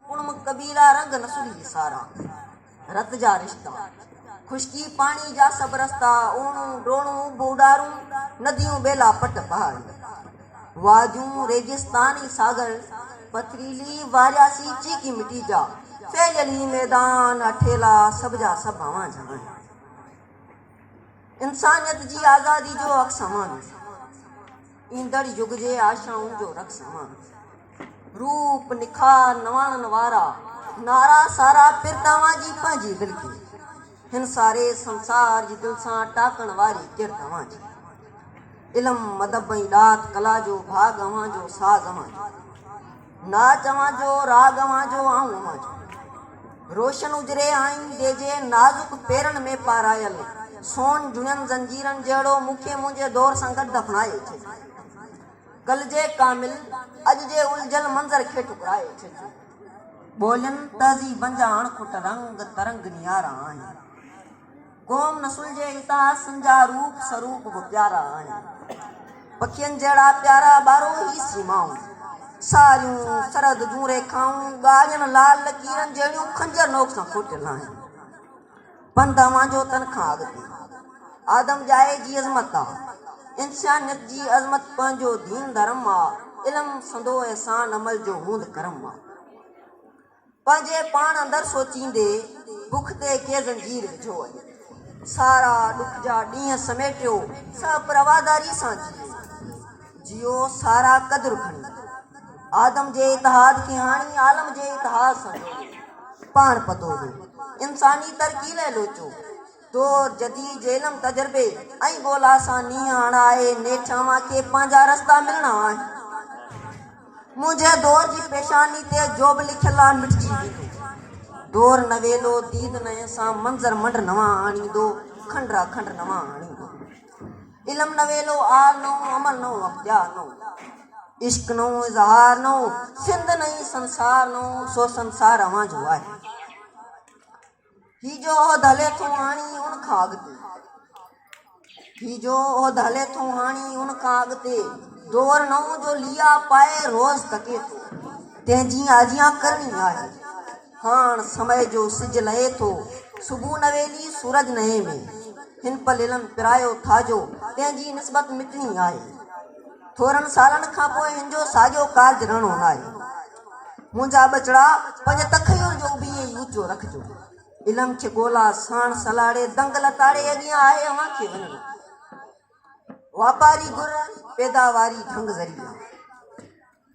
ڪڻم قبيلا رنگ نسل جي ساران، رت جا رشتا، خشڪي پاڻي جا سڀ رستا، اوڻون، ڊوڻون، اڀو ڏارون، نديون، ٻيلا، پٽ، پهاڙي، واجون، ريگستان ۽ ساگر، پٿريلي، وارياسي، چيڪي مٽي جا ڦهليل هي ميدان، اٺيلا، سڀ جا سڀ اوهان جا آهن. انسانيت جي آزادي جو حق سامان، ايندڙ يگ جي آشائن جو رخ سامان، روپ نکار نواڻن وارا، نارا سارا پر توهان جي پنهنجي دل کي، هن ساري سنسار جي دل سان ٽاڪڻ واري ڪر توهان جي، علم ادب ۽ ڏات ڪلا جو ڀاڳ اوهان جو ساز اوهان جو. ناچ اوهان جو، راڳ اوهان جو، آئون اوهان جو. روشن اجري آئين جي جي نازڪ پيرن ۾ پارايل سون جهڙين زنجيرن جهڙو مون کي منهنجي دور سان گڏ دفنائي ڇڏيو. ڪلجي ڪامل اڄ جي الجهيل منظر کي ٺڪرائي ڇڏيو. ٻولين تهذيبن جا اڻکٽ رنگ ترنگ نيارا آهن. قوم نسل جي اتهاسن جا روپ سروپ به پيارا آهن. پکين جهڙا پيارا ٻاروهي سيمائون، ساريون، سرحد جون ريکائون، ڳاڙهين لال لڪيرن جهڙيون خنجر نوڪ سان کوٽيل آهن. پنڌ اوهان جو تن کان اڳتي آدم ڄائي جي عظمت آ. انسانيت جي عظمت پنهنجو دين ڌرم آ. علم سندو احسان عمل جو هوند ڪرم آ. پنهنجي پاڻ اندر سوچيندي بک تي ڪي زنجير وجهو اڃ سارا ڏک جا ڏينهن سميٽيو سڀ پرواداري سان جيئو جيئو سارا قدر کڻي آدم جي اتحاد کي هاڻي عالم جي اتحاد سان جوڙيو پاڻ پتو جو انساني ترقي لئه لوچو تو جدي جهلم تجربي ۽ ڳولا سان نينهن هڻا آهي نيٺ اوهان کي پنهنجا رستا ملڻا آهن منهنجي دور جي پيشاني تي جوب لکيل آهي مٽجي ويندو دور نويلو ديد نئين سان منظر منڊ نوان آڻيندو کنڊ را کنڊ نوان آڻيندو علم نويلو آل نئون عمل نئون اختيار نئون عشق نئون اظهار نئون سنڌ نئين سنسار نئون سو سنسار اوهان جو آهي هي جو عهد هلي ٿو هاڻي ان کان اڳتي. هي جو عهد هلي ٿو هاڻي ان کان اڳتي. دؤر نئون جو ليئا پائي روز تڪي ٿو. تنهن جيئن اجيان ڪرڻي آهي. هاڻ سمئي جو سج لهي ٿو. صبح نويلي سورج نئين ۾. هن پل علم پرايو ٿا جو. تنهن جي نسبت مٽڻي آهي. ٿورن سالن کان پوء هن جو ساڳيو ڪارج رهڻو ناهي. منهنجا ٻچڙا، پنهنجي تخيل جو اڀي ائين ئي اوچو رکجو. علم کي ڳولا، ساڻ سلاڙي، دنگ لتاڙي اڳيان آهي اوهان کي وڃڻو. واپاري گهر، پيداواري ڍنگ ذريعي.